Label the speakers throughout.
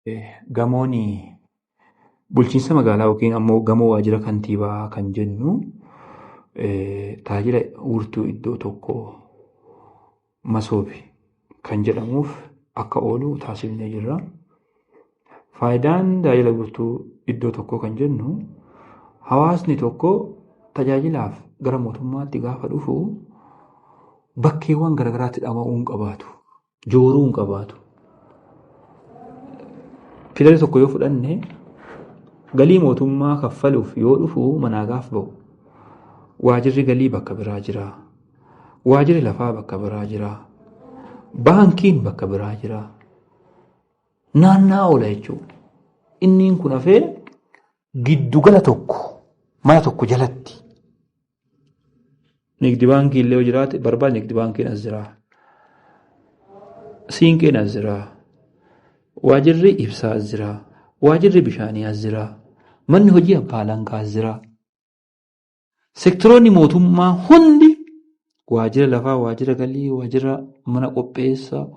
Speaker 1: Eh, Gamoon bulchiinsa magaalaa yookiin ammoo gamoo waajjira kantiibaa kan jennu eh, tajaajila wiirtuu iddoo tokko masoobi kan jedhamuuf akka oolu taasifnee jirra. Faayidaan tajaajila wiirtuu iddoo tokkoo kan jennu hawaasni tokko tajaajilaaf gara mootummaatti gaafa dhufu bakkeewwan garaagaraatti dhama'uu hin qabaatu. jooruu hin qabaatu. Fiilari tokko yoo fudhanne galii mootummaa kaffaluuf yoo dhufu manaa gaaf ba'u. Waajirri galii bakka biraa jira. Waajirri lafaa bakka biraa jira. Baankiin bakka biraa jira. Naannaa oola jechuudha. Inniin kun hafee giddugala tokko mana tokko jalatti Nigdi baankii illee yoo jiraate barbaad nigdi baankiin as jira. Siinqeen as jira. Waajirri ibsaa as jira. Waajirri bishaanii as jira. Manni hojii abbaa alangaa as jira. Sektoroonni mootummaa hundi waajira lafaa, waajira galii, waajira mana qopheessa,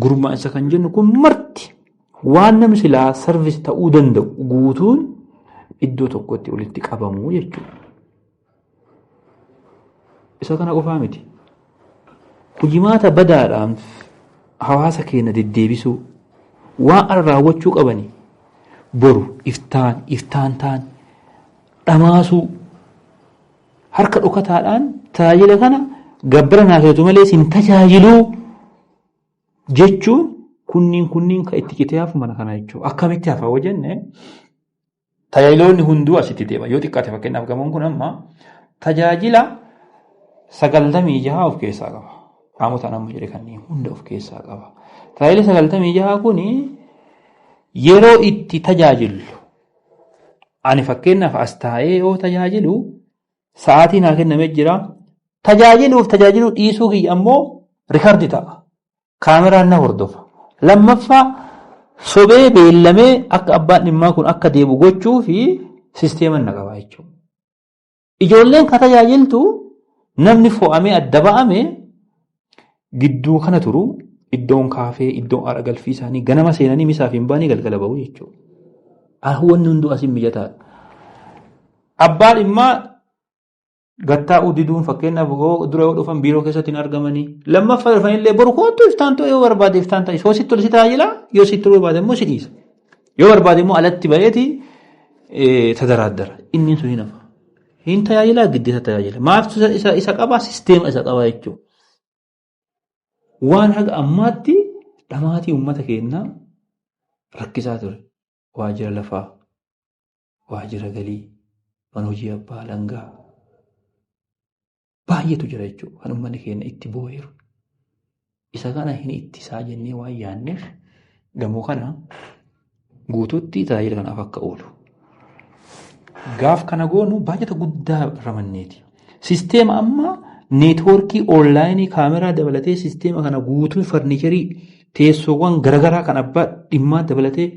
Speaker 1: gurmaa'insa kan jennu kun marti Waan namni silaa sarvis ta'uu danda'u guutuun iddoo tokkotti walitti qabamu jechuudha. Isa kana qofaa miti. Hojimaata badaadhaan hawaasa keenya deddeebisuu waan ala raawwachuu qabanii boru iftaan iftaan taan dhamaasuu harka dhokataadhaan tajaajila kana gabbara naasootu malee sin tajaajiluu Jechuun kunniin kunniin kan itti citee hafu mana kana jechuudha. Akkamitti hafa yoo jenne tajaajiloonni hunduu asitti deema. Yoo xiqqaate fakkeenyaaf gamoon kun amma tajaajila sagaltamii jaha of keessaa qaba. Qaamotaan amma jedhe kanneen hunda of keessaa qaba. Tajaajila sagaltamii jaha kun yeroo itti tajaajillu ani fakkeenyaaf as taa'ee yoo tajaajilu Sa'aatii naa kenname jira. Tajaajiluuf tajaajiluu dhiisuu kiyya ammoo rikardi ta'a. Kaameraan na hordofa. Lammaffaa sobee beellamee akka abbaan dhimmaa kun akka deebu gochuu fi sisteeman na qaba jechuudha. Ijoolleen ka tajaajiltu namni fo'amee adda ba'ame Gidduu kana turu iddoon kaafee iddoon aara galfii isaanii ganama seenanii misaa fi hin baanii galgala bahu jechuudha. Wanni hunduu asiin mijataadha. Abbaa dhimmaa gattaa'uu diduun fakkeenyaaf dura yoo dhufan biiroo keessatti hin argamanii lammaffaa dhufanillee boru kootu iftaan ta'uu yoo barbaade iftaan ta'e yoo sitti tole si tajaajila yoo sitti barbaade immoo si dhiisa. Yoo barbaade immoo alatti ba'eeti tadaraaddara. Inni sun hin hafa. Hin tajaajilaa giddeessa tajaajila. Maaftu isa qabaa sisteema isa qabaa jechuudha. Waan haga ammaatti dhamaatii uummata keenyaa rakkisaa ture. Waajjira lafaa, waajjira galii, mana hojii abbaa alangaa baay'eetu jira jechuudha. Kan uummanni keenya itti boo'eeru. Isa kana hin ittisaa jennee waan yaadneef gamoo kana guutuutti tajaajila kanaaf akka oolu. Gaaf kana goonu baajata guddaa ramanneeti. Sisteema amma neetwoorkii onlaayinii kaameraa dabalatee sisteema kana guutuu farniicharii teessoowwan garaagaraa kan abbaa dhimmaa dabalatee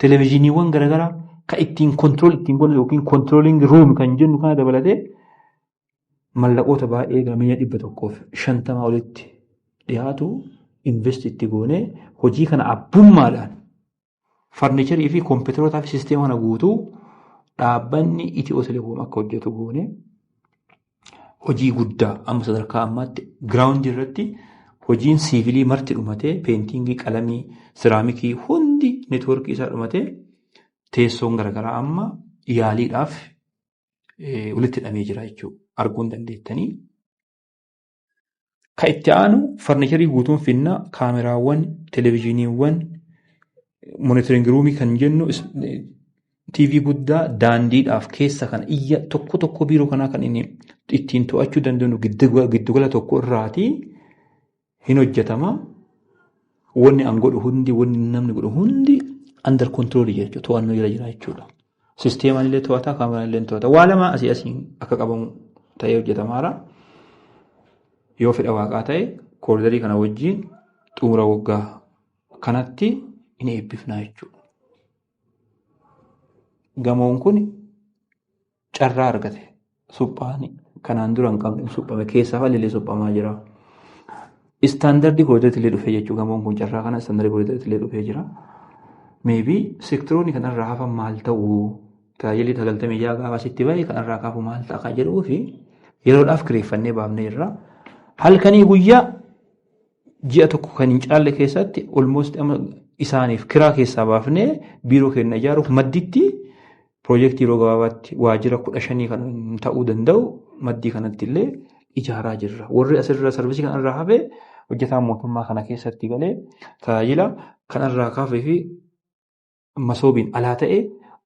Speaker 1: televezyiiniiwwan garaagaraa kan ittiin kontirool ittiin godhan yookiin kontirooliingi ruum kan jennu kana dabalatee mallaqoota baay'ee gamiya dhibba tokkoof shantamaa olitti dhiyaatu invest itti goonee hojii kana abbummaadhaan Farnicharii fi kompiitarootaa fi sisteema kana guutuu dhaabbanni Itiyoo Telekoom akka hojjetu goone hojii guddaa amma sadarkaa ammaatti giraawundi irratti hojiin siivilii marti dhumatee peentingii qalamii siraamikii hundi neetwoorkii isaa dhumatee teessoon garaagaraa amma yaaliidhaaf walitti hidhamee jira jechuudha arguun dandeettanii. Kan itti aanu farnicharii guutuun finna kaameraawwan, televezyiiniiwwan, monitoring ruumii kan jennu TV guddaa daandiidhaaf keessa kan iyya tokko tokko biiroo kanaa kan inni ittiin to'achuu dandeenyu giddugala tokko irraati hin hojjetama. Wanni an godhu hundi wanni namni godhu hundi under control jechuudha to'annoo jala jira jechuudha. Sisteemaan illee to'ata, kaameraan illee to'ata. Waa lama asii asiin akka qabamu ta'ee hojjetamaara. Yoo fedha waaqaa ta'e kooridarii kana wajjin xumura waggaa kanatti hin eebbifnaa jechuudha. Gamoon kun carraa argate. suphaan kanaan dura hin qabne suphame keessaa haalli suphamaa jira. Istaandardii koodatti illee dhufee jechuudha gamoon kun carraa kana istaandardii koodatti illee dhufee jira. Meebii seektaroonni kanarraa hafan maal ta'u tajaajilli sagaltamii ja'a gaafa asitti bahe kanarraa kaafu maal ta'a kan jedhuu fi yeroodhaaf kireeffannee baafnee jirra. Halkanii guyyaa ji'a tokko kan hin caalle keessatti almost isaaniif kiraa keessaa baafnee biiroo keenya ijaaruuf madditti piroojeektii yeroo gabaabaatti waajjira kudha shanii kan ta'uu danda'u maddii kanatti illee ijaaraa jirra. Warri asirra sarvisii kanarraa hafe hojjetaan mootummaa kana keessatti galee tajaajila kanarraa kaafee fi masoobiin alaa ta'e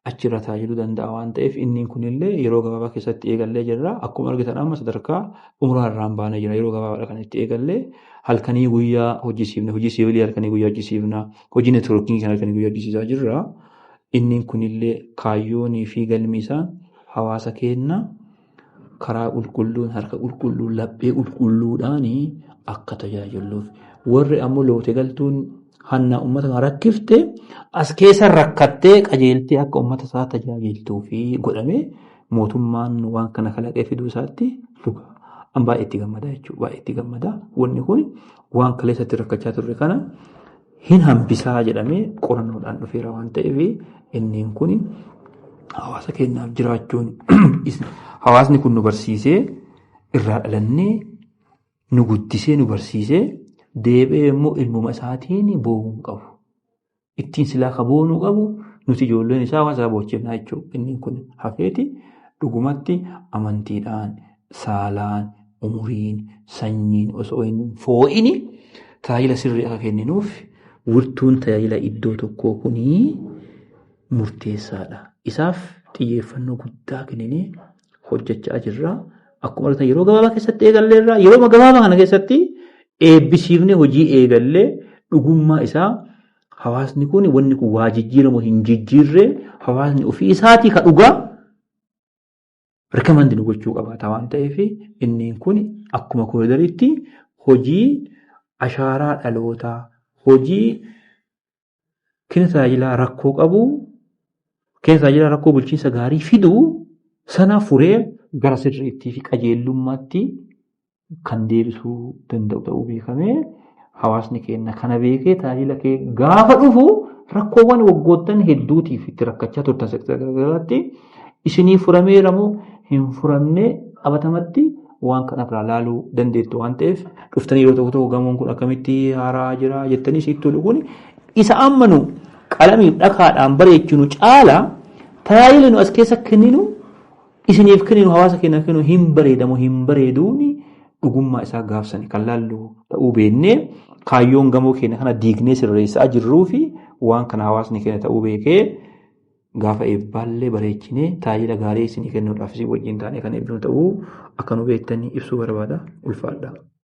Speaker 1: achirra tajaajiluu danda'a waan ta'eef inni kunillee yeroo gabaabaa keessatti eegallee jirra. Akkuma argitan amma sadarkaa xumuraa irraan baanee jira. Yeroo gabaabaadha kan itti eegallee halkanii guyyaa hojjisiifna. Hojii siivilii halkanii guyyaa hojjisiifna. Hojii neetwoorkingii kan halkanii guyyaa hojjisiisaa jirra. Inni kunillee kaayyoonii fi galmi isaa hawaasa keenya karaa qulqulluun harka qulqulluu laphee qulqulluudhaan akka tajaajilluuf warri ammoo loote galtuun hannaa uummata kan rakkifte as keessa rakkattee qajeeltee akka uummata isaa tajaajiltuu fi godhamee mootummaan waan kana kalaqee fiduu isaatti luka an baay'ee itti gammadaa jechuudha baay'ee itti gammadaa wanni kun waan kaleessatti rakkachaa turre kana hin hambisaa jedhamee qorannoodhaan dhufeera waan ta'eef inneen kun hawaasa keenyaaf jiraachuun hawaasni kun nu barsiisee irraa dhalannee nu guddisee nu barsiisee deebi'ee immoo ilmuma isaatiin boo'uu hin qabu. Ittiin silaa ka boo'uu nu qabu nuti ijoolleen isaa hawaasa boochinaa jechuudha. Inneen kun hafeeti dhugumatti amantiidhaan saalaan, umuriin, sanyiin osoo hin foo'ini tajaajila sirrii akka kenninuuf wirtuun tajaajila iddoo tokkoo kun murteessaadha. Isaaf xiyyeeffannoo guddaa kenninee hojjechaa jirra. Akkuma argitan yeroo gabaabaa keessatti eegalleerra. Yeroo gabaabaa kana keessatti eebbisiifnee hojii eegallee dhugummaa isaa hawaasni kun wanni kun waa jijjiiramu hin jijjiirree hawaasni ofii isaatii ka dhugaa Rikamaand nu gochuu qabaata waan ta'eef inni kun akkuma koridariitti hojii ashaaraa dhalootaa hojii kenna tajaajilaa rakkoo qabu kenna tajaajilaa rakkoo bulchiinsa gaarii fidu sana furee gara sirriittii fi qajeellummaatti kan deebisuu danda'u ta'uu beekamee hawaasni keenya kana beekee tajaajila kee gaafa dhufu rakkoowwan waggoottan hedduutiif itti rakkachaa turtan sektara garaagaraatti isinii furameera moo hin furamne qabatamatti waan kana irraa laaluu dandeettu waan ta'eef dhuftanii yeroo tokko tokko gamoon kun akkamitti haaraa jira jettanii siittuu dhuguun isa ammanu qalamiif dhakaadhaan bareechinu caala tajaajila nu as keessa kenninu isiniif kenninu hawaasa keenyaaf kenninu hin bareedamu hin bareeduuni dhugummaa isaa gaafsani kan laallu ta'uu beeknee kaayyoon gamoo keenya kana diignee sirreessaa jirruu fi waan kana hawaasni keenya ta'uu beekee gaafa eebbaallee bareechinee tajaajila gaarii isinii kennuudhaaf isin wajjin taanee kan eebbinu ta'uu akka nu beektanii ibsuu barbaada ulfaadha.